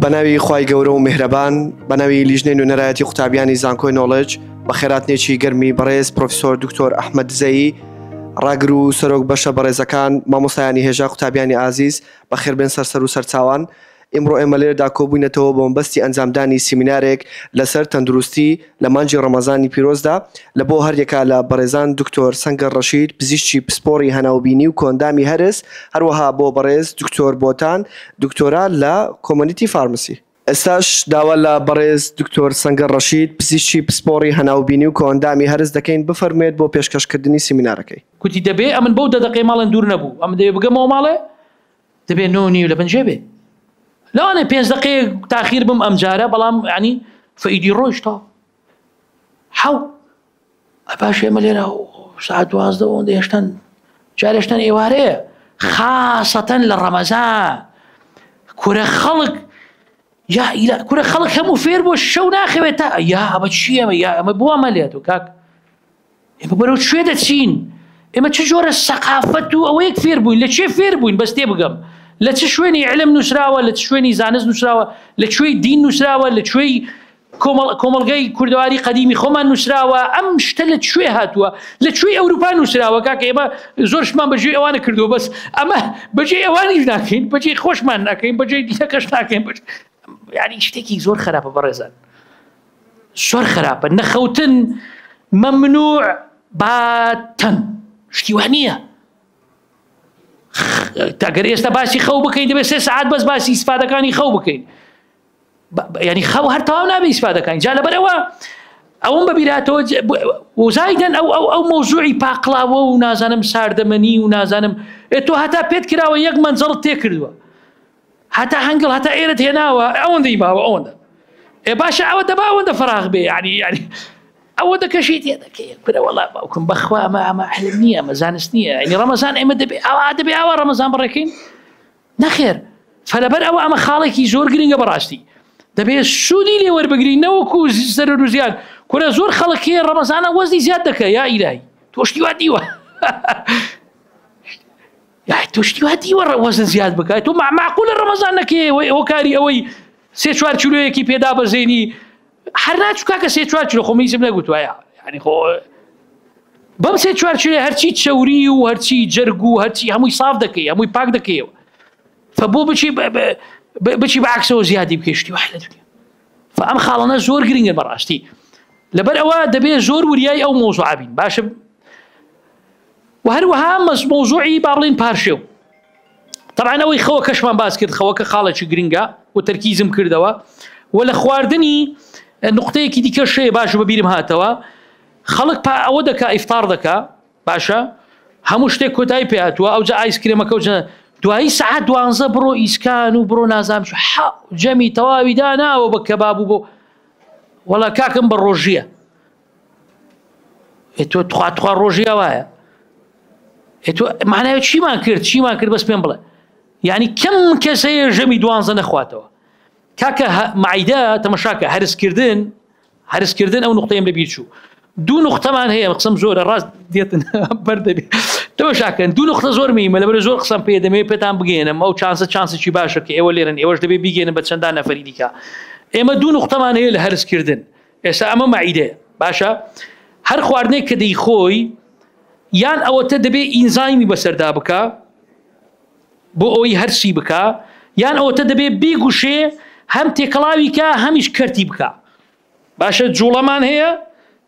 بەناوی خی گەورە و میهرەبان بەناوی لیژنەی نوێنەرایەتی قوتابیانی زانکۆی نۆڵج بە خێراتنێکی گەرمی بەڕێز پرۆفسۆر دکتۆر ئەحمد دزەیی ڕاگر و سەرۆک بەشە بەڕێزەکان مامۆستایانی هێژا قوتابیانی ئازیز بە خێربێن سەرسەر و سەرچوان ئیمڕۆ ئێمە لێرەدا کۆبووینەتەوە بە مەبەستی ئەنجامدانی سیمینارێک لەسەر تەندروستی لە مانگی ڕەمەزانی پیرۆزدا لە بۆ هەریەکە لە بەڕێزان دکتۆر سەنگەر ڕەشید پزیشکی پسپۆڕی هەناوبینی و کۆئەندامی هەرس هەروەها بۆ بەڕێز دکتۆر بۆتان دکتۆرا لە کۆمۆنیتی فارمسی. ئێستاش داوا لە بەڕێز دکتۆر سەنگەر ڕەشید پزیشکی پسپۆڕی هەناوبینی و کۆئەندامی هەرس دەکەین بفەرموێت بۆ پێشکەشکردنی سیمینارەکەی. گوتی دەبێ ئەمن بەو دەدەقەی ماڵێن دوور نەبوو ئەمن دەبێ بگەمەوە ماڵێ دەبێ نۆ نیو لە بنجێ بێ لەوانێ پێنج دقەیە تاخیر بم ئەم جارە بەڵام ینی فەیدی ڕۆیشتا حەو ئەپاش ئێمە لێرە سعات دوازدە ئەوەندە هێشتن جارێشتن ئێوارەیە خاصەتەن لە ڕەمەزان کورە خەڵک یا ئیلا کورە خەڵک هەموو فێر بۆ شەو ناخەوێت تا یا ئەمە چیەمە یا ئەمە بووە مەلێت و کاک ئێمە بەرەو کوێ دەچین ئێمە چ جۆرە سەقافەت و ئەوەیەک فێر بووین لە چێ فێر بووین بەس تێ بگەم لە چ شوێنی علم نووسراوە لە چ شوێنی زانست نووسراوە لە کوێی دین نووسراوە لە کوێی کۆمەلگای کوردەواری قەدیمی خۆمان نووسراوە ئەم شتە لە کوێ هاتووە لە کوێی ئەوروپا نووسراوە کاکە ئێمە زۆرشمان بەجێ ئەوانە کردو بەس ئەمە بەجێ ئەوانیش ناکەین بەجێ خۆشمان ناکەین بەجێ دیەکەش ناکەین بەش یاری شتێکی زۆر خراپە بەڕێزان زۆر خراپە نەخەوتن مەمنوع باتەن شتی وا نییە تاگەر ئێستا باسی خەو بکەین دەبێت سێ سعات بەس باسی ئیسفادەکانی خەو بکەین ینی خەو هەر تاو نابێ ئیسفادەکانی جا لەبەرەوە ئەوم بەبیراتەوە وزایدن ئەو ئەو ئەو مۆزوعی پاقلاوە و نازانم ساردەمەنی و نازانم تۆ هەتا پێت کراوە یەک مەنجەڵ تێکردووە هەتا هەنگڵ هەتا ئێرەت هێناوە ئەوەندەی ماوە ئەوەندە ئێ باشە ئەوە دەبا ئەوەندە فراغ بێ یعنی یعنی ئەوە دەکەشی تێ دەکەی کورە وەڵا باوکم بەخوا ئەمە ئەمە علم نییە ئەمە زانست نییە یعنی ڕەمەزان ئێمە دەبێ ئەوە دەبێ ئەوە ڕەمەزان بڕێکین نەخێر فەلەبەر ئەوە ئەمە خاڵێکی زۆر گرنگە بەڕاستی دەبێت سوودی لێ وەربگرین نەوەکو زیزەر و زیاد کورە زۆر خەڵکی ڕەمەزانە وەزی زیاد دەکە یا ئیرای تۆشتی وا دیوە یاخی تۆ شتی وا دیوە وەزن زیاد بکات تۆ معقولە ڕەمەزان نەکێ هۆکاری ئەوەی سێ چوار کیلوەیەکی پێدا بەزێنی هەر ناچووکا کە سێ چوار کیلو خۆ میزم نەگوتوایە یعنی خۆ بەم سێ چوار کیلو هەرچی چەوری و هەرچی جەرگ و هەرچی هەمووی صاف دەکەی هەمووی پاک دەکەیەوە فبۆ بچی بچی بەعکسەوە زیادی بکەشتی وە لە دنیا فەم خاڵەنە زۆر گرنگە بەڕاستی لەبەر ئەوە دەبێت زۆر وریای ئەو مۆزعبین باشە و هەروەها مەس مەوزوعی با بڵین پارشێو طبعا ئەوەی خەوە کەشمان باس کرد خەوە کە خاڵێکی گرنگە و تەرکیزم کردەوە و لە خواردنی نقطەیەکی دیکە شەیە باش بەبیرم هاتەوە خەڵک پا ئەوە دەکا ئیفتار دەکا باشە هەموو شتێک کۆتایی پێاتوە ئەو جە ئایس کرێمەکەوتە دوایی سعات دوانزە بڕۆ ئیسکان و بڕۆ نازام جەمی تەواوی داناوە بە کەباب و بۆ وەڵا کاکم بە ڕۆژیە ئێ تۆ تخوا تخوا ڕۆژی ئەوایە ئێ تۆ معناوە چیمان کرد چیمان کرد بەس پێم بڵێ یعنی کەم کەسەیە ژەمی دوانزە نەخواتەوە کاکە معیدە تەمەشاکە هەرسکردن هەرسکردن ئەو نقطەیەم لە بیرچوو دوو نقطەمان هەیە قسم زۆرە ڕاست دێتن بەردەبی تەمەشاکەن دوو نقطە زۆر میمە لەبەر زۆر قسەم پێ دەمێ پێتان بگەێنم ئەو چانسە چانسێکی باشە کە ئێوە لێرن ئێوەش دەبێ بیگەێنم بە چەندان نەفەری دیکە ئێمە دوو نقطەمان هەیە لە هەرسکردن ئێستا ئەمە مەعیدەیە باشە هەر خواردنێک کە دەیخۆی یان ئەوەتە دەبێ ئینزایمی بەسەردا بکە بۆ ئەوی هەرسی بکە یان ئەوەتە دەبێ بیگوشێ هەم تێکەڵاویکە هەمیش کەرتی بکە باشە جوڵەمان هەیە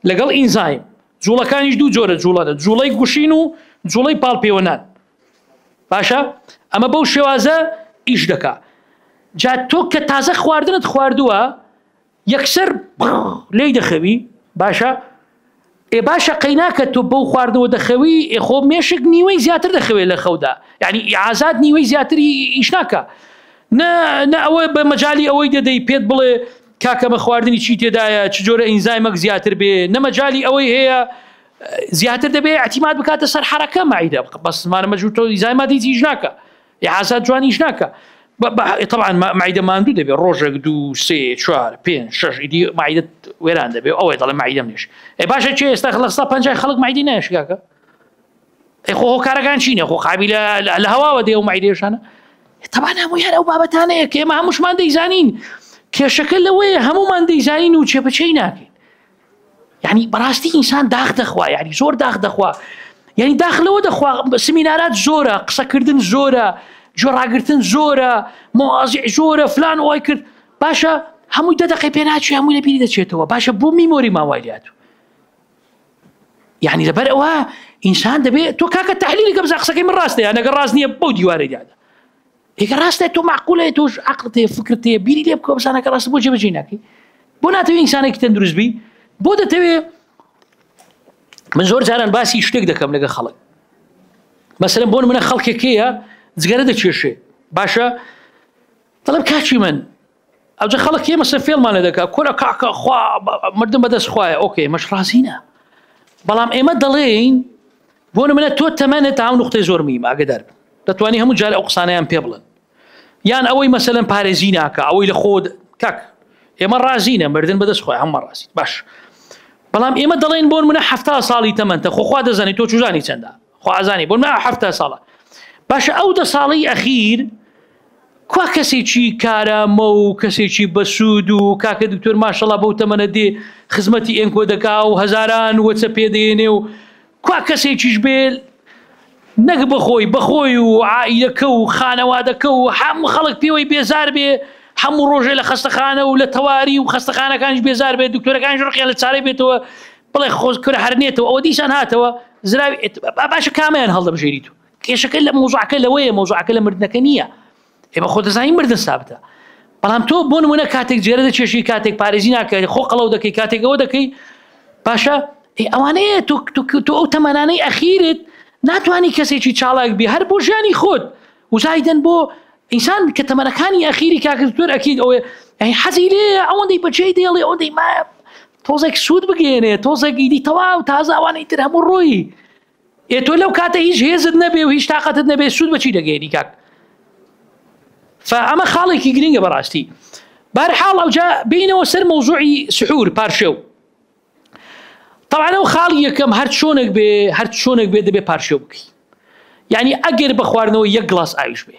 لەگەڵ ئینزایم جوڵەکانیش دوو جۆرە جوڵەدە جوڵەی گوشین و جوڵەی پاڵپێوەنان باشە ئەمە بەو شێوازە ئیش دەکا جا تۆ کە تازە خواردنت خواردووە یەکسەر لێی دەخەوی باشە ئێ باشە قەیناکە تۆ بەو خواردنەوە دەخەوی ئێ خۆ مێشک نیوەی زیاتر دەخەوێت لە خەودا یعنی ئازاد نیوەی زیاتری ئیش ناکە نە نە ئەوە بە مەجای ئەوەی دەدەی پێت بڵێ کاکەمە خواردنی چی تێدایە چ جۆرە ئینزایمەک زیاتر بێ نەمەجای ئەوەی هەیە زیاتر دەبێت ئەتیمات بکاتە سەر حرەکە مایدە بەسمانە مەجوور تۆ ئیزایماتی چیش ناکە ئازاد جوان ئیش ناکە طبعا معیدە ماندوو دەبێت ڕۆژێک دوو سێ چوار پێ شش ئیدی معیدت وێران دەبێت ئەوەی دەڵێ معیدەم نێش ئەی باشە چێ ئێستا خلقستا پنج خەڵک معیدی ناشگاکە ئەی خۆ کارەکان چینە خۆ قابی لە هەواوە دێ و معیدێشانە تەبان هەموو هەر ئەو بابەتانەیە کێمە هەمووشمان دەیزانین کێشەکە لەوەیە هەمومان دەیزانین و چێپەچەی ناکەین یعنی بەڕاستی ئینسان داخ دەخوا یعنی زۆر داخ دەخوا یعنی داخ لەوە دەخوا سمینارات زۆرە قسەکردن زۆرە جۆڕاگرتن زۆرە مۆازی زۆرە فلان وای کرد باشە هەمووی دە دەقی پێناچی هەمووی لەبیری دەچێتەوە باشە بۆ میمۆری ماوایات یعنی لەبەر ئەوە ئینسان دەبێت تۆ کاکە تحلیلی کە بزە قسەکەی من ڕاستەیە نەگە ڕاست نییە بەو دیوارەیادا ئیکە ڕاستە تۆ معقولە تۆش عقلت هەیە فکرت هەیە بیری لێ بکە بزانە کە ڕاستە بۆ جێبەجێ ناکەی بۆ ناتەوێت ئینسانێکی تەندروست بی بۆ دەتەوێت من زۆر جاران باسی شتێک دەکەم لەگە خەڵک مەسەرم بۆن منە خەڵکێکەیە جگەرە دەکێشێ باشە دەڵم کاچی من ئەوجە خەڵک ئێمە سە فێڵمان لە دەکا کورە کاکە خوا مردن بەدەست خوایە ئۆکێ مەش ڕازینە بەڵام ئێمە دەڵێین بۆ منە تۆ تەمەنە تا ئەو نقطەی زۆر میم ئاگدار بن دەتوانانی هەموو جار ئەو قسانیان پێ بڵن یان ئەوەی مەسەن پارێزی ناکە ئەوەی لە خۆت کاک ئێمە ڕازینە مردن بەدەست خۆی هەمە ڕاستی باش بەڵام ئێمە دەڵێن بۆن منە ه ساڵی تەمەنتە خۆخوا دەزانانی تۆ چوزانی چەندە خوازانی بۆ منە ه ساڵە باشە ئەو دە ساڵی ئەخیر کوا کەسێکی کارامە و کەسێکی بەسوود و کاکە دکتۆر ماشەڵا بەو تەمەنە دێ خزمەتی ئێنکۆ دەکا و هەزاران وەچە پێدەێنێ و کوا کەسێکیش بێ نەک بەخۆی بەخۆی و عائیلەکە و خانەوادەکە و هەموو خەڵک پێوەی بێزار بێ هەموو ڕۆژێ لە خەستەخانە و لە تەواری و خەستەخانەکانش بێزار بێت دکتۆرەکانش ڕقیان لە چارەی بێتەوە بڵێ خۆزکرە هەرنێتەوە ئەوە دیسان هاتەوە زراوی باشە کامیان هەڵدەبژێریت و کێشەکە لە مەوزوعەکە لەوەیە مەوزوعەکە لە مردنەکە نییە ئێمە خۆ دەزانین مردن سابتە بەڵام تۆ بۆ نمونە کاتێک جێرە دەچێشی کاتێک پارێزی ناکەی خۆ قەڵەو دەکەی کاتێک ئەوە دەکەی باشە ئەوانەیە تۆ ئەو تەمانانەی ئەخیرت ناتوانانی کەسێکی چاڵاک بی هەر بۆ ژیانی خۆت وزایدن بۆ ئینسان کە تەمەەکانی ئەخیری کاکردتوەر ئەکییت ئەوێ ئەی حەزی لێ ئەوەندەی بەچەی دێڵێ ئەوەندەی ما تۆزێک سوود بگەێنێ تۆزێکیدی تەواو تازاوانەی تر هەموو ڕۆیی ئێ تۆ لەو کاتە هیچ هێزت نەبێ و هیچ تااقەتت نەبێ سوود بەچی دەگەێنی کاک فەمە خاڵێکی گرنگە بەڕاستی بارحاڵ ئەوجا بینەوە سەر مۆزوعی سحور پارشێو تاوانە و خاڵ یەکەم هەر چۆنێک بێ هەر چۆنێک بێ دەبێ پارشێو بکەی یعنی ئەگەر بە خواردنەوە یەک گڵاس ئاویش بێ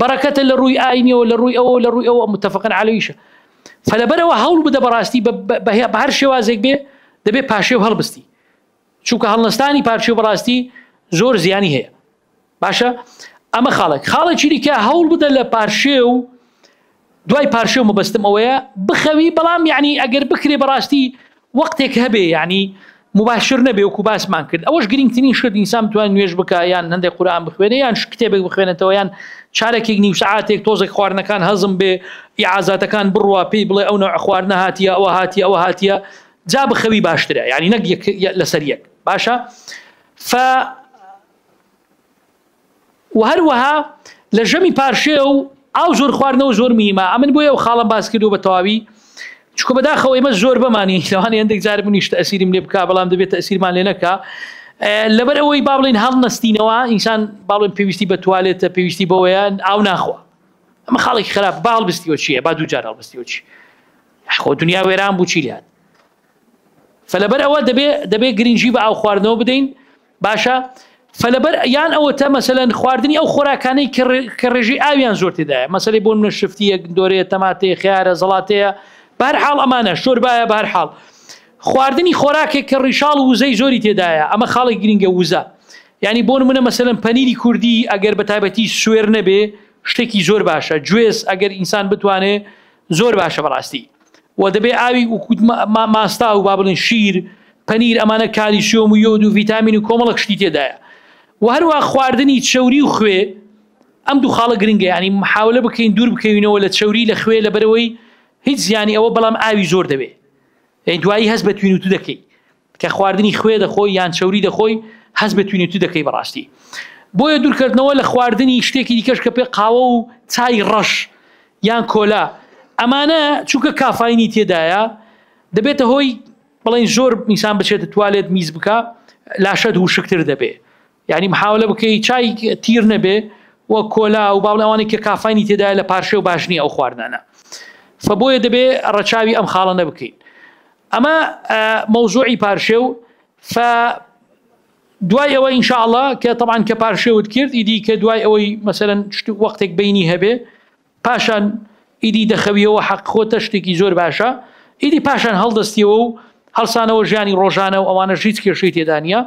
بەڕەکەتە لە ڕووی ئاینیەوە لە ڕووی ئەوە لە ڕووی ئەوە متفقن عەلەویشە فەلەبەرەوە هەوڵ بدە بەڕاستی بە هەر شێوازێک بێ دەبێ پاشێو هەڵبستی چونکە هەڵنەستانی پارچێ بەڕاستی زۆر زیانی هەیە باشە ئەمە خاڵێک خاڵێکی دیکە هەوڵ بدە لە پارشێ و دوای پارشێو مەبەستم ئەوەیە بخەوی بەڵام یەعنی ئەگەر بکرێ بەڕاستی وەقتێک هەبێ یەعنی مباشر نەبێ وەکو باسمان کرد ئەوەش گرنگترین شت ئینسان بتوانێت نوێژ بکا یان هەندێک قورئان بخوێنێ یان کتێبێک بخوێنێتەوە یان چارەکێک نیو سەعاتێک تۆزێک خواردنەکان هەزم بێ ئیعازاتەکان بڕوا پێی بڵێ ئەو نەوع خواردنە هاتیە ئەوە هاتیە ئەوە هاتیە جا بخەوی باشترە یعنی نەک لەسەر یەک باشە ف و هەروەها لە ژەمی پارشێو و ئاو زۆر خواردنەوە زۆر میمە ئەمن بۆ ئەو خاڵم باس کردو بە تەواوی چکە بەداخەوە ئمە زۆر بەمانی لەوانی هەندێک جار منیشت ئەسیریم لێ بک بەڵام دەبێت ئەسیرمان لێ نەکە لەبەر ئەوەی با بڵین هەڵ نستینەوە ئینسان باڵێن پێویستی بە توالێتە پێویستی بەوەیان ئاو ناخوا ئەمە خاڵێکی خراپ باڵ بستیەوە چیە با دوو جار هەڵبستیەوە چی خۆ دنیا وێران بوو چی لات فلەبەر ئەوە دەبێ دەبێ گرنگجی بە ئاو خواردنەوە بدەین باشە فلەبەر یان ئەوەتە مەسەەن خواردنی ئەو خۆراکانەی کە ڕێژی ئاویان زۆر تێدایە مەسەی بۆ منە شفتی یەک دۆرەیە تەماتێ خیارە زڵاتەیە بار حاڵ ئەمانە شۆربایە بار حاڵ خواردنی خۆراکێک کە ڕیشاڵ وزەی زۆری تێدایە ئەمە خاڵێک گرنگە وزە ینی بۆن منە مەسەن پەنیری کوردی ئەگەر بە تایبەتی سوێر نەبێ شتێکی زۆر باشە گوێز ئەگەر ئینسان بتوانێت زۆر باشە بەڕاستی و دەبێ ئاوی وکوت ماستاو و با بڵین شیر پەنیر ئەمانە کالیسیۆم و یۆد و ڤیتامین و کۆمەڵک شتی تێدایە و هەروە خواردنی چەوری و خوێ ئەم دوو خاڵە گرنگە ینی محاولە بکەین دوور بکەوینەوە لە چەوری لە خوێ لە بەرەوەی هیچ زیانی ئەوە بەڵام ئاوی زۆر دەوێ دوایی هەست بە توین و تو دەکەی کە خواردنی خوێ دەخۆی یان چەوری دەخۆی هەست بە توینەتو دەکەی بەڕاستی بۆیە دورکەتنەوە لە خواردنی شتێکی دیکەش کە پێ قاوە و چای ڕەش یان کۆلا ئەمانە چونکە کافاینی تێدایە دەبێتە هۆی بڵێن زۆر میسان بچێتە توالێت میز بکە لاشەت ووشکتر دەبێ یانی محاولە بکەی چای تیر نەبێ و کۆلا و باڵ ئەوانەی کە کافانی تێدایە لە پارشێ و باش نییە ئەو خواردنانە فبۆیە دەبێ ڕەچاوی ئەم خاڵە نەبکەین ئەمە مەوزوعی پارشێ و ف دوای ئەوە ئینشاءله کە طبعاان کە پارشێوت کرد ئیدی کە دوای ئەوەی مەسەرەن وەختێک بینی هەبێ پاشان ئیدی دەخەویەوە حەق خۆتە شتێکی زۆر باشە ئیدی پاشان هەڵدەستیەوە و هەڵسانەوە ژیانی ڕۆژانە و ئەوانە ژیت کێشەی تێدانە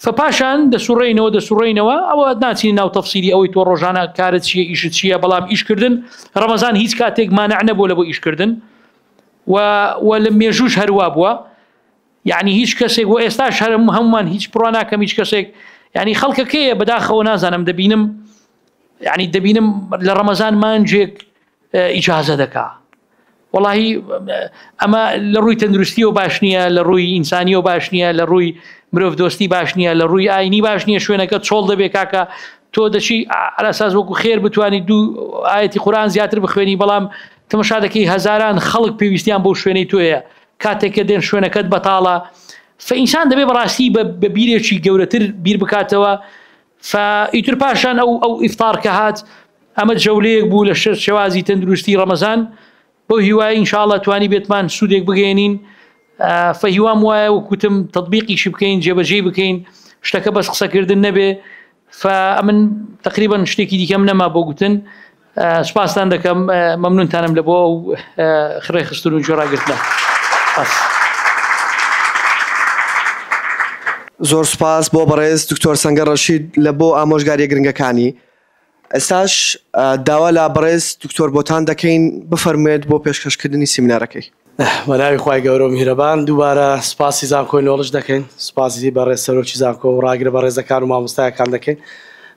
فە پاشان دەسوڕێنەوە دەسوڕێنەوە ئەوە ناچین ناو تەفسیری ئەوەی تۆ ڕۆژانە کارت چیە ئیشت چیە بەڵام ئیشکردن ڕەمەزان هیچ کاتێک مانع نەبوو لە بۆ ئیشکردن و و لە مێژوش هەروا بووە یعنی هیچ کەسێک و ئێستاش هەرم هەمومان هیچ پڕواناکەم هیچ کەسێک ینی خەڵکەکەیە بەداخەوە نازانم دەبینم یعنی دەبینم لە ڕەمەزان مانجێک ئیجازە دەکا وڵی ئەمە لە ڕووی تەندروستی و باش نییە لە ڕووی ئینسانی و باش نییە لە ڕووی مرۆڤ دۆستی باش نییە لە ڕووی ئاینی باش نییە شوێنەکە چۆڵ دەبێ کاکە تۆ دەچی ئەلاساز وەکو خێر بتانی دوو ئاەتی قورآان زیاتر بخوێنی بەڵام تمەشا دەکەی هەزاران خەڵک پێویستیان بۆ شوێنەی تۆیە کاتێکە دێن شوێنەکەت بەتاڵە فئینسان دەبێ بەڕاستی بە بیرێکی گەورەتر بیر بکاتەوە فە ئیتر پاشان ئەو ئەو ئیفتار کە هات ئەمە جەولەیەک بوو لە شەر شێوازی تەندروستی ڕەمەزان بۆ هیوای انشاءله توانی بێتمان سوودێک بگەێنین فەهیوام وایە وکوتم تطببیقیشی بکەین جێبەجێ بکەین شتەکە بەس قسەکردن نەبێ فە من تقریبا شتێکی دیکەم نەما بۆ گوتن سوپاستان دەکەم مەمنونتانم لە بۆ ئەو خڕێ خستن و گوێڕاگرتنە بەس. زۆر سوپاس بۆ بەڕێز دکتۆر سەنگەر ڕەشید لە بۆ ئامۆژگاریە گرنگەکانی. ئێستاش داوا لە بەڕێز دکتۆر بۆتان دەکەین بفەرموێت بۆ پێشکەشکردنی سیمینارەکەی. بە ناوی خوای گەورە و میهرەبان دووبارە سوپاسی زانکۆی نۆڵج دەکەین، سوپاسی بەڕێز سەرۆکی زانکۆ و ڕاگرە بەڕێزەکان و مامۆستایەکان دەکەین،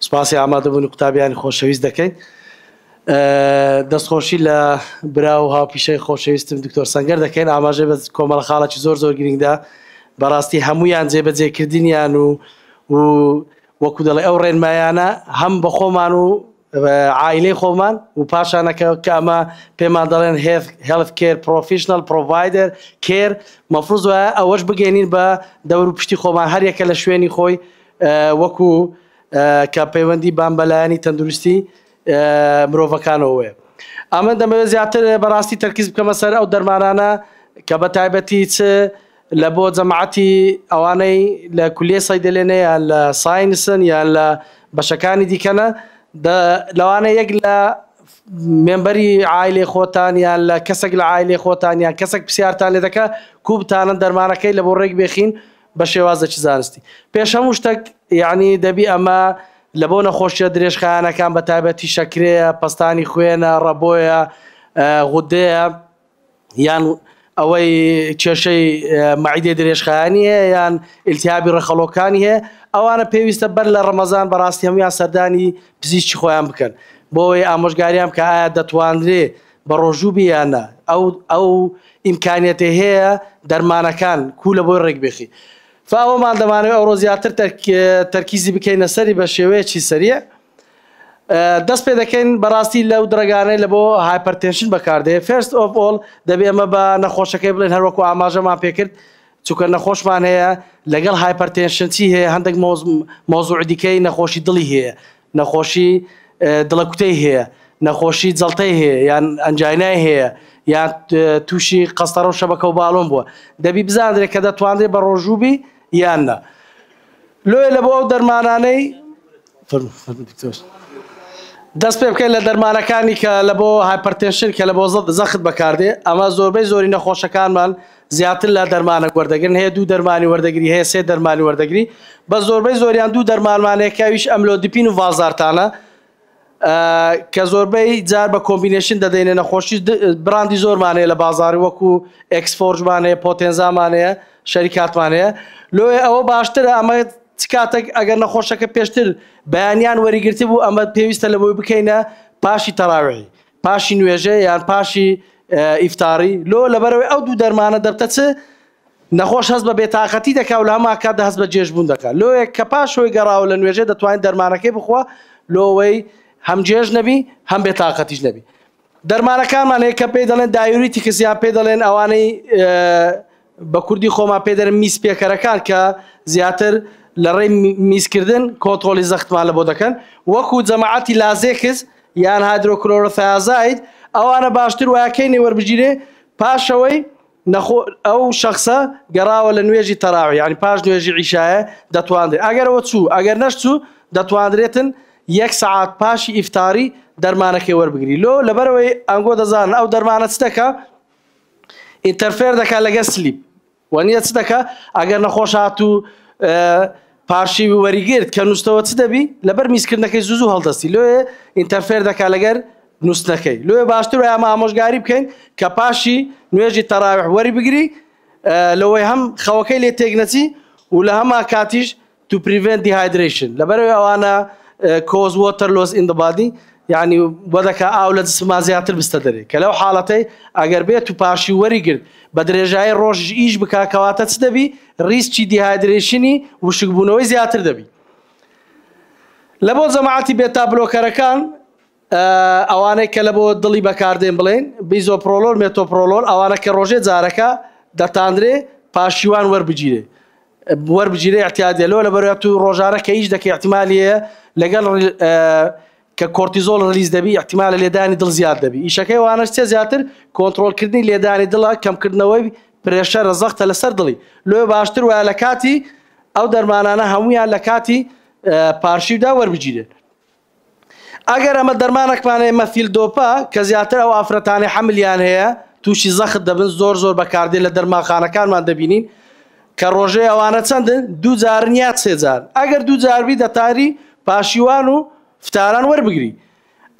سوپاسی ئامادەبوونی قوتابیانی خۆشەویست دەکەین. دەستخۆشی لە برا و هاوپیشەی خۆشەویستم دکتۆر سەنگەر دەکەین، ئاماژەی بە کۆمەڵە خاڵێکی زۆر زۆر گرنگ دا، بەڕاستی هەموویان جێبەجێکردنیان و و وەکو دەڵێ ئەو ڕێنمایانە هەم بە خۆمان و عائیلەی خۆمان و پاشانە کە کە ئەمە پێمان دەڵێن Health Care Professional Provider Care مەفروز وایە ئەوەش بگەینین بە دەور و پشتی خۆمان هەر یەکە لە شوێنی خۆی وەکو کە پەیوەندی بان بە لایەنی تەندروستی مرۆڤەکانەوەیە ئەمە دەمەوێت زیاتر بەڕاستی تەرکیز بکەمە سەر ئەو دەرمانانە کە بە تایبەتی چ لە بۆ جەماعەتی ئەوانەی لە کولیەی سەیدەلێنە یان لە ساینسن یان لە بەشەکانی دیکەنە دە لەوانە یەک لە مێمبەری عایلەی خۆتان یان لە کەسێک لە عایلەی خۆتان یان کەسێک پرسیارتان لێ دەکا کوو بتانن دەرمانەکەی لە بۆ ڕێک بێخین بە شێوازێکی زانستی پێش هەموو شتەک یانی دەبی ئەمە لە بۆ نەخۆشیە درێژخایەنەکان بە تایبەتی شەکرەیە پەستانی خوێنە ڕەبۆیە غودەیە یان ئەوەی کێشەی مەعیدەی درێژخایەنی هەیە یان ئیلتیهابی ڕەخەڵۆکانی هەیە ئەوانە پێویستە بەر لە ڕەمەزان بەڕاستی هەموویان سەردانی پزیشکی خۆیان بکەن بۆ ئەوەی ئامۆژگاریان بکە ئایا دەتوانرێ بە ڕۆژوو بی یان نا ئەو ئەو ئیمکانیەتێ هەیە دەرمانەکان کوو لە بۆی ڕێک بێخی فا ئەوەمان دەمانەوێ ئەوڕۆ زیاتر تەرکیزی بکەینە سەری بە شێوەیەکی سەریع دەست پێ دەکەین بەڕاستی لەو درەگانەی لە بۆ هایپەرتێنشن بەکاردێ فێرست ئۆف ئۆڵ دەبێ ئەمە بە نەخۆشەکەی بڵێن هەروەکو ئاماژەمان پێکرد چونکە نەخۆشمان هەیە لەگەڵ هایپەرتێنشن چی هەیە هەندێک مۆزوع دیکەی نەخۆشی دڵی هەیە نەخۆشی دڵەکوتەی هەیە نەخۆشی جەڵتەی هەیە یان ئەنجینای هەیە یان تووشی قەستەڕە و شەبەکە و باڵۆن بووە دەبی بزانرێت کە دەتوانرێت بە ڕۆژووبی یان نە لۆیە لە بۆ ئەو دەرمانانەی دەست پێ بکەین لە دەرمانەکانی کە لە بۆ هایپەرتێنشن کە لە بۆ زەخت بەکاردێ ئەمە زۆربەی زۆری نەخۆشەکانمان زیاتر لە دەرمانە وەردەگرن هەیە دوو دەرمانی وەردەگری هەیە سێ دەرمانی وەردەگری بە زۆربەی زۆریان دوو دەرمانمانەیەکەویش ئەملۆ دپین و ڤازارتانە کە زۆربەی جار بە کۆمبینەیشن دەدەینێ نەخۆشی براندی زۆرمان هەیە لە بازاڕی وەکو ئێکسفۆرجمان هەیە پۆتێنزامان هەیە شەریکاتمان هەیە لۆیێ ئەوە باشترە ئەمە چ کاتێک ئەگەر نەخۆشەکە پێشتر بەیانیان وەریگرتبوو ئەمە پێویستە لە بۆی بکەینە پاشی تەراویحی پاشی نوێژە یان پاشی ئیفتاڕی لۆ لەبەرەوەی ئەو دوو دەرمانە دەبتە چ نەخۆش هەست بە بێتاقەتی دەکا و لە هەمان کاتدا هەست بە جێژبوون دەکا. لۆیەک کە پاش هۆی گەڕاوە لە نوێژێ دەتوانیت دەرمانەکەی بخوا لۆ ئەوەی هەم جێژ نەبی هەم بێتاقەتیش نەبی. دەرمانەکانمان هەیە کە پێی دەڵێن دایوریتیکس یان پێ دەڵێن ئەوانەی بە کوردی خۆمان پێ دەرن میز پێکەرەکان کە زیاتر لە ڕێی میزکردن کۆنترۆڵی زەختمان لە بۆ دەکەن وەکو جەماعەتی لازێکس یان هایدرۆکلۆرۆثیازاید ئەوانە باشتر وایە کەی نێوەربگیرێ پاشەوەی نەخۆ ئەو شەخسە گەڕاوە لە نوێژی تەراویح یانی پاش نوێژی عیشایە دەتواندرێت ئەگەر ئەوە چوو ئەگەر نەشچوو دەتواندرێتن یەک سەعات پاشی ئیفتاری دەرمانەکەی وەربگری لۆ لەبەرەوەی ئەنگۆ دەزانن ئەو دەرمانە چ دەکا ئینتەرفێر دەکا لەگەر سلیپ وە نیە چ دەکا ئەگەر نەخۆش هاتوو پارشی وەریگرت کە نووستەوە چ دەبی لەبەر میزکردنەکەی زوو زوو هەڵدەستی لۆیە ئینتەرفێر دەکا لەگەر نووستنەکەی لۆیە باشتر وایە ئەمە ئامۆژگاری بکەین کە پاشی نوێژی تەراویح وەری بگری لەوەی هەم خەوەکەی لێ تێک نەچی و لە هەما کاتیش تو پریڤێنت دیهایدرەیشن لەبەرەوەی ئەوانە کۆز وۆتەر لۆز ئین دبادی یعنی بۆ دەکا ئاو لە جسمما زیاتر بستە دەرێ کە لەو حاڵەتەی ئەگەر بێت و پاشی وەری گرت بە درێژایی ڕۆژ ئیش بکا کەواتە چ دەبی ریسکی دیهایدرەیشنی وشکبوونەوەی زیاتر دەبی. لە بۆ جەماعەتی بێتا بلۆکەرەکان ئەوانەی کە لە بۆ دڵی بەکاردێن بڵێن بیزۆپرۆلۆر مێتۆپرۆلۆر ئەوانە کە ڕۆژێ جارەکە دەتاندرێ پاشیوان وەربگیرێ وەربگیرێ احتیادێ لۆ لە بەرە تو ڕۆژانە کە ئیش دەکە احتیمالیە لەگەڵ کە کۆرتیزۆڵ ڕلیز دەبی احتیمالە لێدانی دڵ زیاد دەبی ئیشەکەی وانەش چێ زیاتر کۆنتترۆلکردنی لێدانی دڵە کەمکردنەوەی پرێشەرە زەختە لەسەر دڵی لۆێ باشتر وایە لە کاتی ئەو دەرمانانە هەمویان لە کاتی پارشیودا وەربگیرێت ئەگەر ئەمە دەرمانەکمانەیە مەفیل دۆپە کە زیاتر ئەو ئافرەتانی حملیان هەیە تووشی زەخت دەبن زۆر زۆر بەکاردێ لە دەرماخانەکانمان دەبینین کە ڕۆژێ ئەوانە چەندن؟ دوو جارن یا سێ جار؟ ئەگەر دوو جار بی دەتاری پاشیوان و فتاران وەربگری.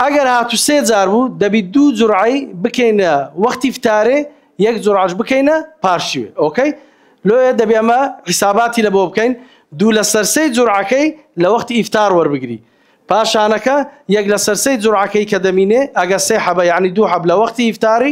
ئەگەر هاتوو سێ جار بوو دەبی دوو جورعەی بکەینە وەختی فتارێ یەک جورعەش بکەینە پاشیوێ ئۆکەی؟ لۆیە دەبی ئەمە حیساباتی لە بۆ بکەین دوو لە سەر سێی جورعەکەی لە وەختی ئیفتار وەربگری پاشانەکە یەک لە سەر سێی جورعەکەی کە دەمینێ ئەگە سێ حەبە یانی دوو حەب لە وەختی ئیفتاری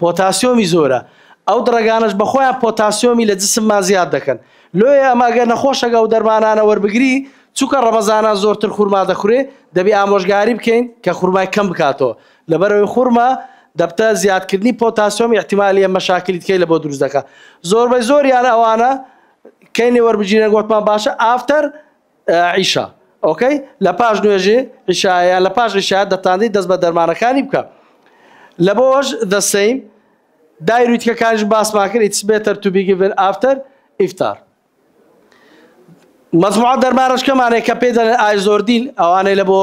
پۆتاسیۆمی زۆرە، ئەو دڕەگانەش بەخۆیان پۆتاسیۆمی لە جسممان زیاد دەکەن، لۆیە ئەمە گەر نەخۆشەک ئەو دەرمانانە وەربگری، چونکە ڕەمەزانان زۆرتر خورما دەخورێ، دەبی ئامۆژگاری بکەین کە خورمای کەم بکاتەوە، لەبەرئەوەی خورما دەبتە زیادکردنی پۆتاسیۆم ئیحتیمالیە مەشاکلی تکەی لەبۆ دروست دەکا زۆربەی زۆریان ئەوانە کەی نەوەربگیرێن وەتمان باشە ئافتەر عیشا ئۆکەی لە پاش نوێژی عیشا یان لە پاش عیشا دەتانزی دەست بە دەرمانەکانی بکە لە بۆش the same دایروی تکەکانیش باسمان کرد it's better to be given after iftar مەزموعە دەرمانەشکەمانێک کە پێ دەڵێن ئایزۆردین ئەوانەی لە بۆ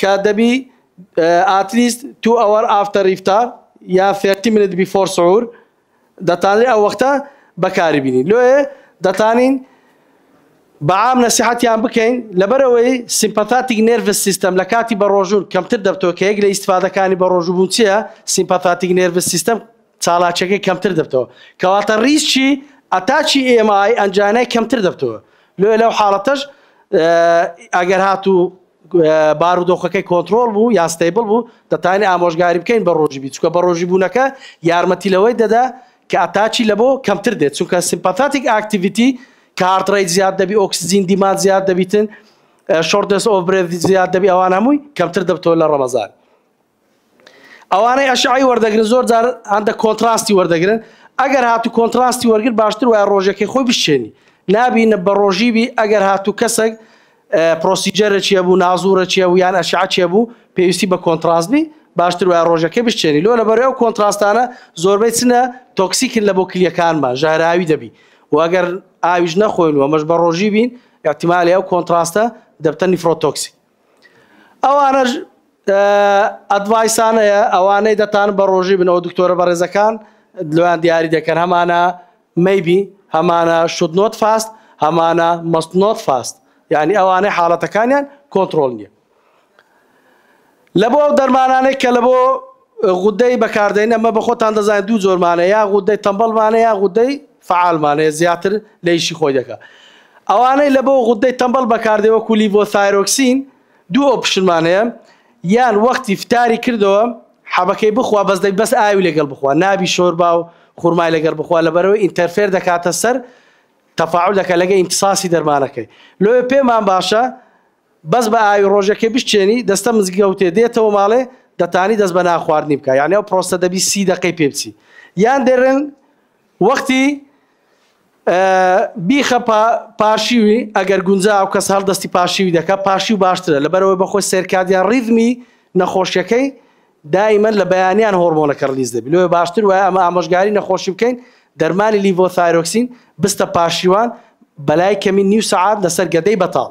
کە دەبی ئات لیست توو ئەوەر ئافتەر ئیفتار یا ثێرتی منت بیفۆر سحور دەتانلێ ئەو وەختە بەکاری بینین لۆیێ دەتانین بە عام نەسیحەتیان بکەین لەبەرەوەی سیمپەثاتیک نێرڤس سیستەم لە کاتی بەڕۆژوون کەمتر دەبتەوە کە یەک لە ئیستفادەکانی بەڕۆژوو بوون چیە سیمپەثاتیک نێرڤس سیستەم چالاکیەکەی کەمتر دەبتەوە کەواتە ریسکی ئەتاچی ئێمای ئەنجانای کەمتر دەبتەوە لۆیە لەو حاڵەتەش ئەگەر هاتوو بارودۆخەکەی کۆنترۆڵ بوو یا ستەیبڵ بوو، دەتوانین ئامۆژگاری بکەین بە ڕۆژی بی، چونکە بە ڕۆژی بوونەکە یارمەتی لەوەی دەدا کە ئەتاکی لەبۆ کەمتر دێت، چونکە سیمپاتاتیک ئاکتیڤیتی کە هارت ڕەیت زیاد دەبی، ئۆکسجین دیماند زیاد دەبیتن، شۆرتنس ئۆف برێڤ زیاد دەبی، ئەوان هەمووی کەمتر دەبتەوە لە ڕەمەزان. ئەوانەی ئەشعی وەردەگرن زۆر جار هەندە کۆنتراستی وەردەگرن ئەگەر هاتو کۆنتراستی وەرگر باشتر وایە ڕۆژەکەی خۆی بشێنی نابینە بە ڕۆژی بی ئەگەر هاتو کەسێک پرۆسیجەرە چیە بوو نازورە چیە بوو یان ئەشعە چیە بوو پێویستی بە کۆنتراست بی باشتر وای ڕۆژەکەی بشتێنی لۆ لە بەرەو کۆنتراستانە زۆربەی چنە تۆکسیکن لە بۆ کلیەکانمان ژەهراوی دەبی واگەر ئاویش نەخۆین وەمەش بە ڕۆژی بین احتیمالی ئەو کۆنتراستە دەبتە نیفرۆتۆکسی ئەوانەش ئەدڤایسان هەیە ئەوانەی دەتان بە ڕۆژی بنەوە دکتۆرە بەڕێزەکان لەوان دیاری دەکەن هەمانە مەیبی هەمانە شود نۆت فاست هەمانە مەست نۆت فاست یعنی ئەوانەی حاڵەتەکانیان کۆنتترۆل نیە لە بۆ ئەو دەرمانانێک کە لە بۆ غودەی بەکاردێن ئەمە بەخۆتان دەزانێت دوو جۆر مانە یا غودەی تەمبەڵ مانە یا غودەی فعال مانەیە زیاتر لە ئیشی خۆی دەکات ئەوانەی لە بۆ غودەی تەمبەڵ بەکاردێ وەکو لیڤۆثایرۆکسین دوو ئۆپشنمان هەیە یان وەختی فتاری کردەوە حەبەکەی بخوا بەس دەک بەس ئاوی لەگەڵ بخوا نابی شۆربا و خورمای لەگەڵ بخوا لەبەرەوەی ئینتەرفێر دەکاتە سەر تەفاعل دەکە لەگە ئیمتصاسی دەرمانەکەی لۆێ پێمان باشە بەس بە ئاوی ڕۆژەکێ بشچێنی دەستە مزگەوتێ دێتەوە ماڵێ دەتانی دەست بە نان خواردنی بکا یانی ئەو پرۆسە دەبی سی دەقەی پێ بچی یان دەرن وەختی بیخە پاشیوی ئەگەر گونجا ئەو کەس هەر دەستی پاشیوی دەکە پاشی و باشترە لەبەرەوەی بەخۆی سەرکادیان ڕیزمی نەخۆشیەکەی دایمەن لە بەیانیان هۆرمۆنەکە ڕلیز دەبی لۆێ باشتر وایە ئەمە ئامۆژگاری نەخۆشی بکەین دەرمانی لیڤۆثایرۆکسین بستە پاشیوان بەلای کەمی نیو سەعات لەسەر گەدەی بەتاڵ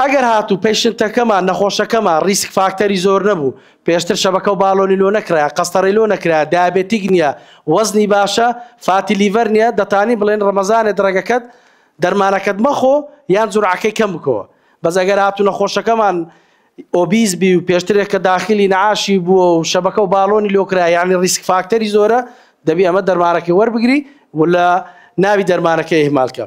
ئەگەر هاتوو پەیشنتەکەمان، نەخۆشەکەمان، ریسک فاکتەری زۆر نەبوو، پێشتر شەبەکە و باڵۆنی لۆ نەکرایە، قەستەڕەی لۆ نەکرایە، دایابێتیک نییە، وەزنی باشە، فاتی لیڤەر نییە، دەتانی بڵێن رەمەزانێ دڕەگەکەت، دەرمانەکەت مەخۆ یان جورعەکەی کەم بکەوە. بەس ئەگەر هاتوو نەخۆشەکەمان ئۆبیز بی و پێشترێک کە داخلی نەعاشی بووە و شەبەکە و باڵۆنی لۆ کرایە یانی ریسک فاکتەری زۆرە، دەبی ئەمە دەرمانەکەی وەربگری و لە ناوی دەرمانەکەی ئیهمالکە.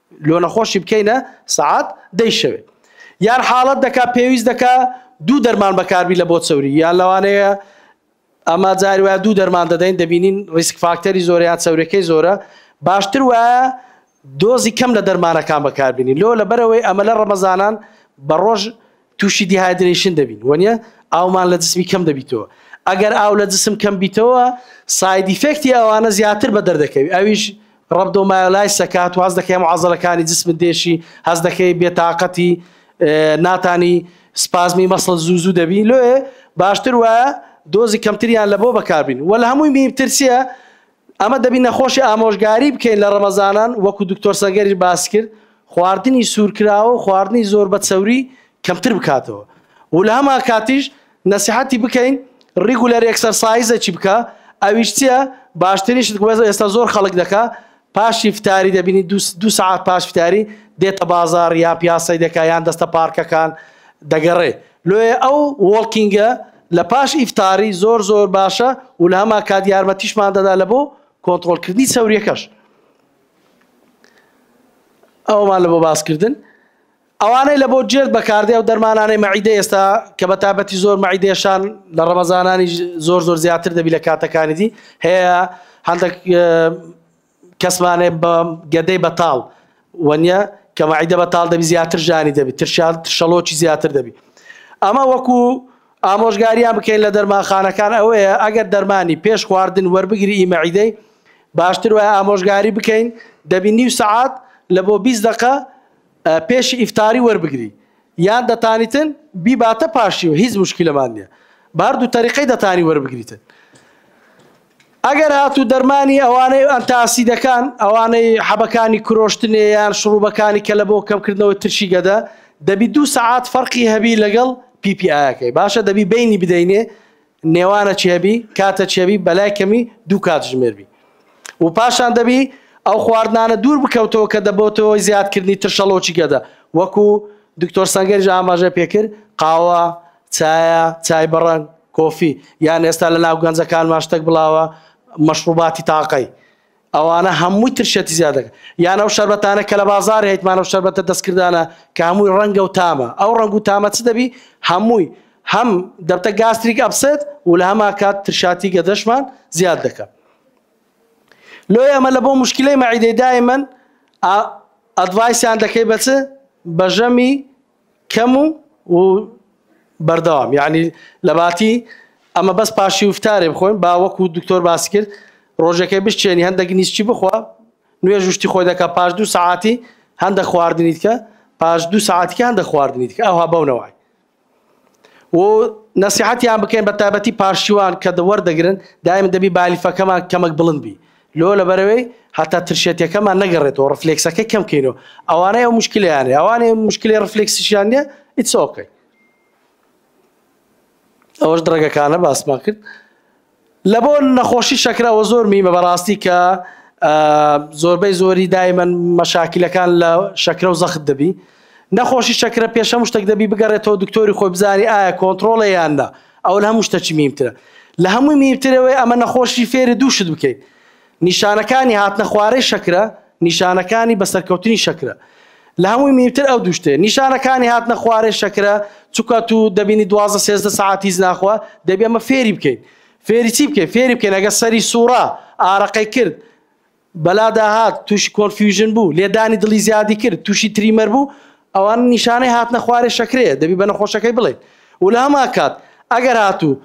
لۆ نەخۆشی بکەینە سەعات دەی شەوێ یان حاڵەت دەکا پێویست دەکا دوو دەرمان بەکاربی لە بۆ چەوری یان لەوانەیە ئەما جاری وایە دوو دەرمان دەدەین دەبینین ریسک فاکتەری زۆر یان چەورەکەی زۆرە باشتر وایە دۆزی کەم لە دەرمانەکان بەکاربینی لۆ لەبەرەوەی ئەمە لە ڕەمەزانان بە ڕۆژ توشی دیهایدرەیشن دەبین وەنیە ئاومان لە جسمی کەم دەبیتەوە ئەگەر ئاو لە جسم کەم بیتەوە سایدیفێکتی ئەوانە زیاتر بە دەردەکەوی ئەویش ڕەبدۆ مایۆلای سەکات واز دەکەی معزەلەکانی جسم دێشی هەز دەکەی بێتاقەتی ناتانی سپازمی مەسڵ زوو زوو دەبی لێ باشتر وایە دۆزی کەمتریان لە بۆ بەکاربین وە لە هەمووی میترسیە ئەمە دەبی نەخۆشی ئامۆژگاری بکەین لە ڕەمەزانان وەکو دکتۆر سەنگەریش باس کرد خواردنی سوورکراوە و خواردنی زۆر بە چەوری کەمتر بکاتەوە و لە هەما کاتیش نەسیحەتی بکەین ڕیگولەر ئێکسەرسایزەکی بکە ئەویش چییە باشترینشت ئێستا زۆر خەڵک دەکا پاشی فتاری دەبینی دو سعات پاش فتاری دێتە بازار یان پیاسەی دەکە یان دەستە پارکەکان دەگەڕێ لۆێ ئەو وۆڵکینگە لە پاش ئیفتاری زۆر زۆر باشە و لە هەمان کات یارمەتیشمان دەدا لە بۆ کۆنتڕۆلکردنی چەوریەکەش ئەومان لە بۆ باسکردن ئەوانەی لە بۆ جێرد بەکاردێ و دەرمانانەی مەعیدە ئێستا کە بە تابەتی زۆر مەعیدێشان لە ڕەمەزانانی زۆر زۆر زیاتر دەبی لە کاتەکانی دی هەیە هەندێک کەس مانێ بە گەدەی بەتاڵ وەنیە کە مەعیدە بەتاڵ دەبی زیاتر ژانی دەبی ترشال ترشەڵۆکی زیاتر دەبی ئەمە وەکو ئامۆژگاریان بکەین لە دەرمانخانەکان ئەوەیە ئەگەر دەرمانی پێش خواردن وەربگری ئی مەعیدەی باشتر وایە ئامۆژگاری بکەین دەبی نیو سەعات لە بۆ 20 دقە پێش ئیفتاری وەربگری یان دەتانیتن بیباتە پاشی و هیچ مشکلەمان نییە بە هەردوو تەریقەی دەتانی وەربگریتن ئەگەر هاتوو دەرمانی ئەوانەی ئەنتاسیدەکان ئەوانەی حەبەکانی کرۆشتنێ یان شڕوبەکانی کەلە بۆ کەمکردنەوەی ترشی گەدە دەبی دوو سەعات فەرقی هەبی لەگەڵ پی پی ئایەکەی باشە دەبی بینی بدەینێ نێوانە چی هەبی کاتە چی هەبی بەلای کەمی دوو کات ژمێر بی و پاشان دەبی ئەو خواردنانە دوور بکەوتەوە کە دەبۆتەوە زیادکردنی ترشەڵۆکی گەدە وەکو دکتۆر سەنگەریش ئاماژە پێکرد قاوە چایە، چای بە ڕەنگ، کۆفی، یان ئێستا لە ناو گەنجەکانمان شتەک بڵاوە مەشڕوباتی تاقەی، ئەوانە هەمووی ترشێتی زیاد دەکەن. یان ئەو شەربەتانە کە لە بازاڕ هەیتمان ئەو شەربەتە دەستکردانە کە هەمووی ڕەنگە و تامە، ئەو ڕەنگ و تامە چ دەبی هەمووی هەم دەبتە گاستریک ئەپسێت و لە هەمان کات ترشاتی گەدەشمان زیاد دەکا. لۆیە ئەمە لە بۆ موشکیلەی مەعیدەی دایمەن ئەدڤایسیان دەکەی بە چ؟ بە ژەمی کەم و و بەردەوام یعنی لەباتی ئەمە بەس پاشی وفتارێ بخۆین با وەکو دکتۆر باسی کرد ڕۆژەکەی بشتێنی هەندێک نیستی بخوا نوێژ شتی خۆی دەکە پاش دوو سعاتی هەندە خواردنیت کە پاش دوو سعاتیکە هەندە خواردنیت کە ئەوها بەونەوەی و نسیحەتیان بکەین بە تابەتی پارشیوان کە دەوەەردەگرن دایم دەبی بالیفەکەمان کەمەک بڵند بی لۆ لەبەرەوەی هەتا ترشێتیەکەمان نەگەڕێتەوە ڕفلێکسەکەی کەم کەینەوە ئەوانەی ئەو مشکلیان هەیە ئەوانەی مشکلی ڕفلێکسیشیان نیە ئیتس ئۆکەی ئەوەش دڕەگەکانە باسمان کرد لە بۆ نەخۆشی شەکرەوە زۆر میمە بەڕاستی کە زۆربەی زۆری دایمەن مەشاکلەکان لە شەکرە و زەخت دەبی نەخۆشی شەکرە پێش هەموو شتەک دەبی بگەڕێتەوە دکتۆری خۆی بزانی ئایا کۆنتڕۆڵە یان نا ئەوە لە هەموو شتەکی میمترە لە هەمووی میمترەوەی ئەمە نەخۆشی فێری دوو شت بکەیت نیشانەکانی هاتنە خوارەی شەکرە نیشانەکانی بەسەرکەوتنی شەکرە لە هەمووی میمتر ئەو دوو شتێ نیشانەکانی هاتنە خوارەی شەکرە چکە تو دەبینی دوازە سێزدە سعات هیچ ناخوا دەبی ئەمە فێری بکەیت فێری چی بکەیت فێری بکەین ئەگە سەری سوڕا ئارەقەی کرد بەلا داهات تووشی کۆنفیوژن بوو لێدانی دڵی زیادی کرد تووشی تریمەر بوو ئەوان نیشانەی هاتنە خوارێ شەکرەیە دەبی بە نەخۆشەکەی بڵێن و لە هەما کات ئەگەر هاتوو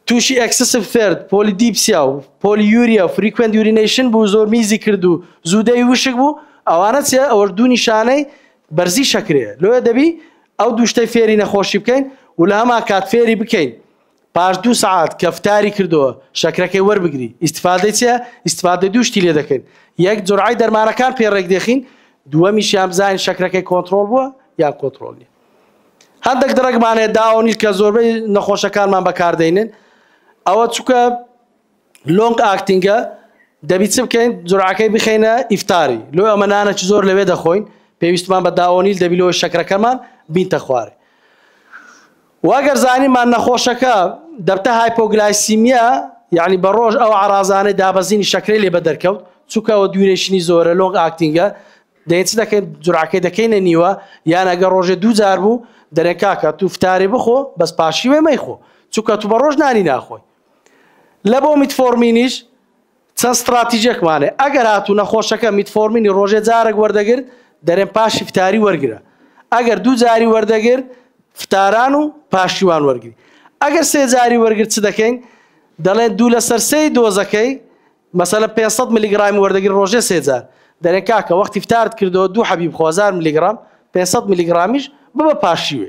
تووشی ئەکسسف ثرد پۆلی دیپسیا و پۆلی یوریا و فریکوێنت یورینەیشن بوو زۆر میزی کرد و زوودەوی وشک بوو ئەوانە چێ ئەوەش دوو نیشانەی بەرزی شەکرەیە لۆیە دەبی ئەو دووشتەی فێری نەخۆشی بکەین و لە هەما کات فێری بکەین پاش دوو سەعات کەفتاری کردووە شەکرەکەی وەربگری ئیسفادەی چیە ئیسفادە دوو شتی لێ دەکەین یەک جرعی دەرمانەکان پێ ڕێک دەخین دووەمیشیان بزانین شەکرەکەی کۆنتترۆل بووە یا کۆنتترۆلی هەندێک دڕێکمانێ داونی کە زۆربەی نەخۆشەکانمان بەکاردێنن ئەوە چکە لۆنگ ئاکتینگە دەبی چ بکەین جورعەکەی بخەینە ئیفتاری لۆ ئەمە نانە چ زۆر لەوێ دەخۆین پێویستمان بە داوەنیل دەبی لۆ شەکرەکەمان بینتە خوارێ واگەر زانیمان نەخۆشەکە دەبتە هایپۆگلایسیمیا یعنی بە ڕۆژ ئەو عرازانەی دابەزینی شەکرەی لێ بە دەرکەوت چونکە ئەوە دوورێشنی زۆرە لۆنگ ئاکتینگە دەین چ دەکەین جورعەکەی دەکەینە نیوە یان ئەگە ڕۆژێ دوو جار بوو دەرێن کاکە تو فتاری بخۆ بەس پاشیوێ مەیخۆ چونکە تو بە ڕۆژ نانی ناخۆی لە بۆ میتفۆرمینیش چەند ستڕاتیجێکمان هەیە، ئەگەر هاتوو نەخۆشەکە میتفۆرمینی ڕۆژێ جارەک وەردەگرت، دەرێن پاشی فتاری وەرگرە، ئەگەر دوو جاری وەردەگرت فتاران و پاشیوان وەرگری، ئەگەر سێ جاری وەرگرت چ دەکەین؟ دەڵێن دوو لەسەر سێی دۆزەکەی مەسەلەن پێنج سەد ملیگڕامی وەردەگری ڕۆژێ سێ جار، دەرێن کاکە وەختی فتارت کردەوە دوو حەبی بخۆ هەزار ملیگڕام، پێنج سەد ملیگڕامیش ببە پاشیوێ،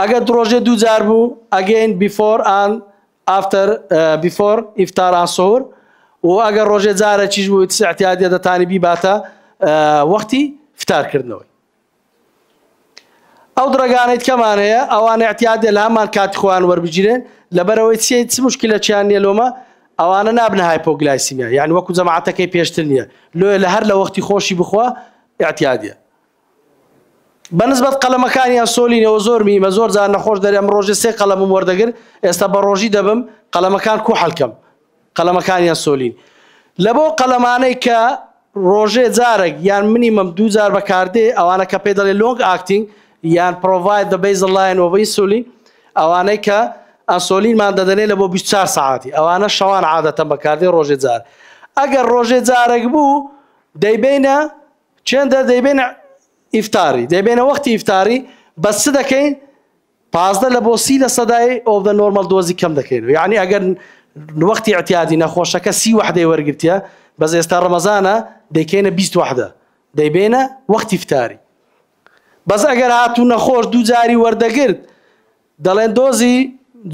ئەگەر دڕۆژێ دوو جار بوو ئەگەین بیفۆر ئان ئافتەر بیفۆر ئیفتار ئان سەهور و ئەگەر ڕۆژێ جارەکیش بوو ئیتس اعتیادیە دەتانی بیباتە وەختی فتارکردنەوەی ئەو دڕگانەی کەمان هەیە ئەوان اعتیادە لە هەمان کاتی خۆیان وەربگیرێن لەبەرەوەی چی چ مشکلەکیان نیە لۆمە ئەوانە نابنە هایپۆگلایسیمیا یان وەکو جەماعەتەکەی پێشتر نیە لۆیە لە هەر لە وەختی خۆشی بخوا اعتیادە بەنسبەت قەلەمەکانیان سۆلی نەوە زۆر میمە زۆر جار نەخۆش دەرێ ئەم ڕۆژێ سێ قەلەمم وەردەگر ئێستا بە ڕۆژی دەبم قەلەمەکان کو هەلکەم قەلەمەکانیان سۆلین لە بۆ قەلەمانەی کە ڕۆژێ جارێک یان منی مەم دوو جار بەکاردێ ئەوانە کە پێ دەڵێ لۆنگ ئاکتینگ یان پرۆڤایت دە بەیز لاین وەبەی سولین ئەوانەی کە ئەسۆلینمان دەدەنێ لە بۆ 24 ساعتی ئەوانە شەوان عادەتە بەکاردێ ڕۆژێ جار ئەگەر ڕۆژێ جارێک بوو دەیبینە چێندە دەیبێنە ئیفتاری دەیبێنە وەختی ئیفتاری بەس چ دەکەین پازدە لە بۆ سی لە سەدای ئۆف دە نۆرمەل دۆزی کەم دەکەینەوە یعنی ئەگەر وەختی اعتیادی نەخۆشەکە سی وحدەی وەرگرتە بەس ئێستا ڕەمەزانە دەیکەینە 20 وحدە دەیبێنە وەختی فتاری بەس ئەگەر هاتوو نەخۆش دوو جاری وەردەگرت دەڵێن دۆزی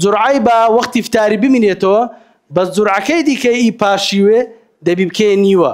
جورعی بە وەختی فتاری بمینێتەوە بەس جورعەکەی دیکە ئی پاشیوێ دەبی بکەیە نیوە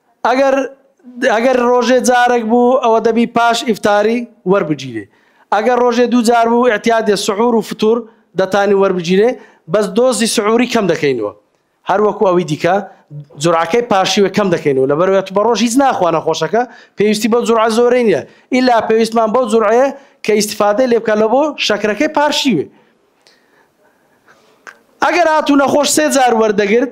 ئەگەر ئەگەر ڕۆژێ جارەک بوو ئەوە دەبی پاش ئیفتاری وەربگیرێ ئەگەر ڕۆژێ دوو جار بوو ئیعتیادێ سحور و فتور دەتانی وەربگیرێ بەس دۆزی سحوری کەم دەکەینەوە هەر وەکو ئەوی دیکە جورعەکەی پاشیوێ کەم دەکەینەوە لەبەرەوەی تو بەڕۆژ هیچ ناخوا نەخۆشەکە پێویستی بەو جورعە زۆرەی نیە ئیلا پێویستمان بەو جورعەیە کە ئیستفادەی لێ بکا لەبۆ شەکرەکەی پارشیوێ ئەگەر هاتو نەخۆش سێ جار وەردەگرت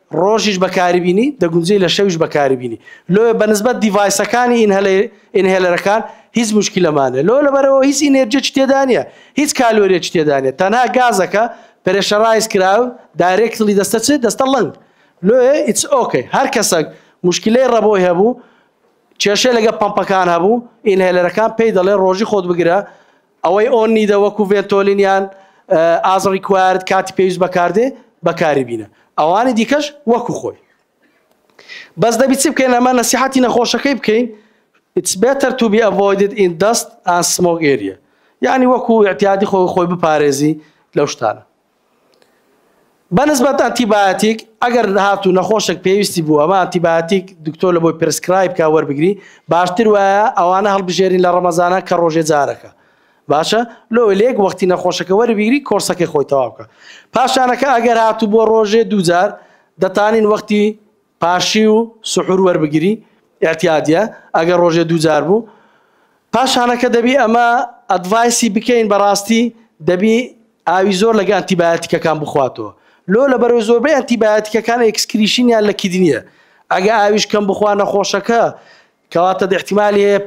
ڕۆژیش بەکاریبینی دەگونجێی لە شەویش بەکاریبینی لۆیە بەنسبەت دیڤایسەکانی ئینهێلەرەکان هیچ موشکیلەمان نیە لۆ لەبەرەوە هیچ ئینێرجێکی تێدا نیە هیچ کالۆریەکی تێدا نیە تەنها گازەکە پرێشەرایز کراو دایرێکتلی دەستە چ دەستە ڵەنگ لۆیە ئیتس ئۆکەی هەر کەسەک موشکیلەی ڕەبۆی هەبوو کێشەی لەگە پەمپەکان هەبوو ئینهێلەرەکان پێی دەڵێ ڕۆژی خۆت بگرە ئەوەی ئۆن نیدە وەکو ڤێنتۆلین یان ئاز ڕیکوایرد کاتی پێویست بەکاردێ بەکاری بینە ئەوانی دیکەش وەکو خۆی بەس دەبی چی بکەین ئەمە نەسیحەتی نەخۆشەکەی بکەین It's better to be avoided in dust and smoke area یعنی وەکو اعتیادی خۆی خۆی بپارێزی لەو شتانە بەنسبەت ئەنتیبایۆتیک ئەگەر هاتوو نەخۆشێک پێویستی بوو ئەمە ئەنتیبایۆتیک دکتۆر لە بۆی پرسکرایب کا وەربگری باشتر وایە ئەوانە هەڵبژێرین لە ڕەمەزانە کە ڕۆژێ جارەکە باشە لۆ لێک وەختی نەخۆشەکە وەربگری کۆرسەکەی خۆی تەواو بکە پاشانەکە ئەگەر هاتوو بۆ ڕۆژێ دووجار دەتانین وەختی پاشیو سحور وەربگری ئیعتیادیە ئەگەر ڕۆژێ دوو جار بوو پاشانەکە دەبی ئەمە ئەدڤایسی بکەین بەڕاستی دەبی ئاوی زۆر لەگە ئەنتیبایەتیکەکان بخواتەوە لۆ لەبەرەوەی زۆربەی ئەنتیبایەتیکەکان ئێکسکریشینیان لە کیدنیە ئەگە ئاویش کەم بخوا نەخۆشەکە کەواتە ئیحتیمالی هەیە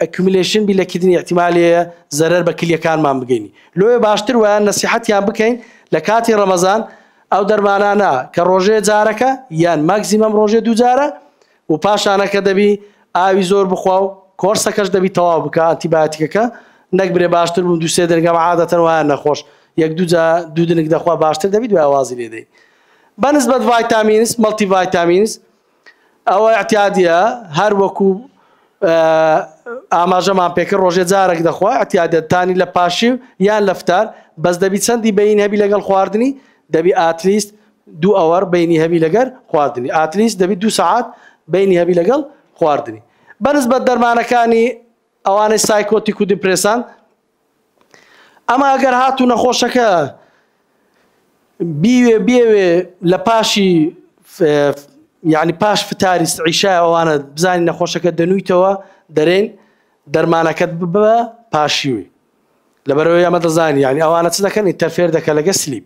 ئەکیوملەیشن بی لە کردنی ئیحتیمالی هەیە زەرەر بە کلیەکانمان بگەینی لۆیە باشتر وایە نەسیحەتیان بکەین لە کاتی ڕەمەزان ئەو دەرمانانە کە ڕۆژێ جارەکە یان ماکزیمەم ڕۆژێ دوو جارە و پاشانەکە دەبی ئاوی زۆر بخوا و کۆرسەکەش دەبی تەواو بکە ئەنتیبایۆتیکەکە نەک برێ باشتر بوو دوو سێ دەنگەم عادەتەن وایە نەخۆش یەک دوو جا دوو دنگ دەخوا باشتر دەبی دوای وازی لێ دەی بەنسبەت ڤایتامینس مەڵتی ڤایتامینس ئەوە ئیعتیادیە هەر وەکو ئاماژەمان پێکرد ڕۆژێ جارەک دەخوا ئیعتیادە تانی لە پاشی یان لەفتار بەس دەبی چەندی بەین هەبی لەگەڵ خواردنی دەبی ئاتلیست دوو ئەوەر بینی هەبی لەگەر خواردنی ئاتلیست دەبی دو سەعات بینی هەبی لەگەڵ خواردنی بەنسبەت دەرمانەکانی ئەوانەی سایکۆتیک و دیپرسان ئەمە ئەگەر هاتوو نەخۆشەکە بیوێ بێوێ لە پاشی یعنی پاش فتاری عیشای ئەوانە بزانین نەخۆشەکە دەنویتەوە دەرێن دەرمانەکەت بە پاشیوی لەبەرەوەی ئەمە دەزانین یعنی ئەوانە چ دەکەن ئینتەرفێر دەکە لەگە سلیب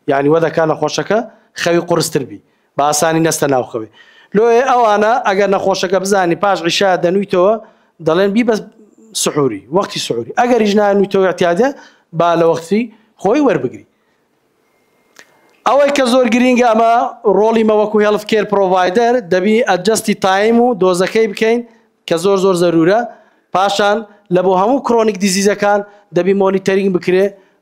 یعنی وە دەکە نەخۆشەکە خەوی قرستر بی بە ئاسانی نەستە ناو خەوێ. لۆیێ ئەوانە ئەگەر نەخۆشەکە بزانی پاش عیشا دەنویتەوە دەڵێن بیبە سحوری وەختی سحوری ئەگەریش نانویتەوە اعتیادە با لە وەختی خۆی وەربگری. ئەوەی کە زۆر گرینگە ئەمە ڕۆڵی مە وەکو هێڵف کێر پرۆڤایدەر دەبی ئەجەستی تایم و دۆزەکەی بکەین کە زۆر زۆر زەرورە پاشان لە بۆ هەموو کرۆنیک دیزیزەکان دەبی مۆنیتەرینگ بکرێ